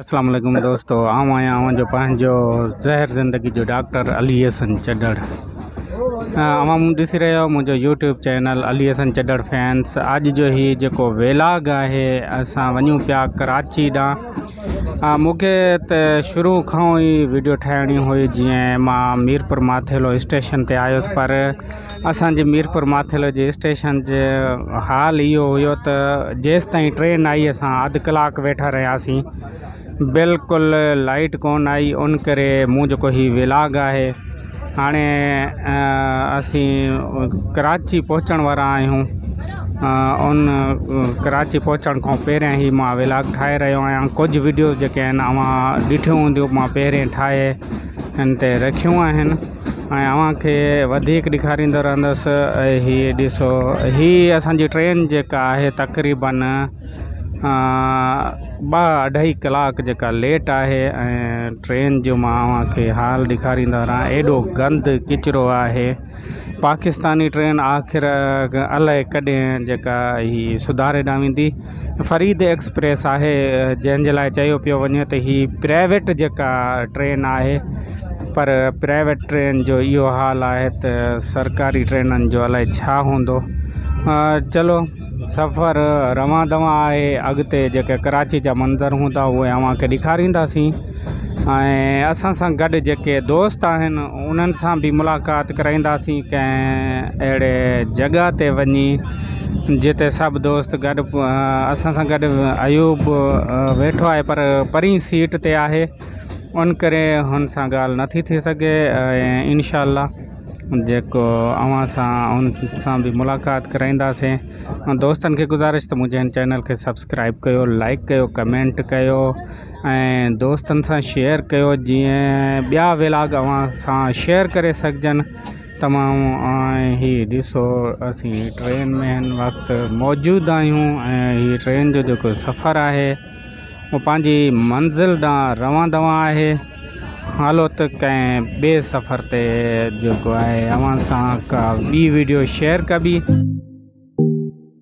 اسلام عليڪم دوستو آئون آهيان اوهان جو پنهنجو زهر زندگي جو ڊاڪٽر علي حسن چڏڙ اوهان مون ڏسي رهيا آهيو منهنجو YouTube channel Ali Hasan Chhadar fans اڄ جو هي جيڪو ويلاگ آهي اسان وڃون پيا ڪراچي ڏانهن مونکي ته شروع کان ئي ويڊيو ٺاهڻي هئي جيئن مان ميرپور ماٿيلو اسٽيشن تي آيس پر اسان جي ميرپور ماٿيلو جي اسٽيشن جو حال اهو هيو ته جيستائين ٽرين آئي اسان اڌ ڪلاڪ ويٺا رهياسين بلڪل لائيٽ ڪون آئي ان ڪري مون جيڪو هي ولاگ آهي هاڻي اسين ڪراچي پهچڻ وارا آهيون ان ڪراچي پهچڻ کان پهريان هي مان ولاگ ٺاهي رهيو آهيان ڪجهه وڊيوز جيڪي آهن اوهان ڏٺيون هونديون مان پهرين ٺاهي هن تي رکيون آهن ۽ اوهان کي وڌيڪ ڏيکاريندو رهندس ۽ هي ڏسو هي اسانجي ٽرين جيڪا آهي تقريبا ٻه اڍائي ڪلاڪ جيڪا ليٽ آهي ۽ ٽرين جو مان اوهان کي حال ڏيکاريندو رهان ايڏو گند ڪچرو آهي پاڪستاني ٽرين آخر الاهي ڪڏهن جيڪا هي سڌاري ڏانهن ويندي فريد ايڪسپريس آهي جنهن جي لاء چيو پيو وڃي ته هي پرائيويٽ جيڪا ٽرين آهي پر پرائيويٽ ٽرين جو اهو حال آهي ته سرڪاري ٽرينن جو الائي ڇا هوندو چلو سفر روان دوان آهي اڳتي جيڪي ڪراچي جا منظر هوندا اهي اوهان کي ڏيکارينداسين ۽ اسان سان گڏ جيڪي دوست آهن انهن سان بي ملاقات ڪرائينداسين ڪنهن اهڙي جڳهه تي وڃي جتي سڀ دوست گڏ اسان سان گڏ ايوب ويٺو آهي پر پرين سيٽ تي آهي ان ڪري هن سان ڳالهه نٿي ٿي سگهي ۽ انشاء الله جيڪو اوهان سان ان سان به ملاقات ڪرائينداسين ۽ دوستن کي گذارش ته منهنجي هن چينل کي سبسڪرائب ڪيو لائڪ ڪيو ڪمينٽ ڪيو ۽ دوستن سان شيئر ڪيو جيئن ٻيا ولاگ اوهان سان شيئر ڪري سگهجن تمام ۽ هي ڏسو اسين ٽرين ۾ هن وقت موجود آهيون ۽ هي ٽرين جو جيڪو سفر آهي هو پنهنجي منزل ڏانهن روان دوان آهي هلو ته ڪنهن ٻي سفر تي جيڪو آهي اوهان سان ڪا ٻي ويڊيو شيئر ڪبي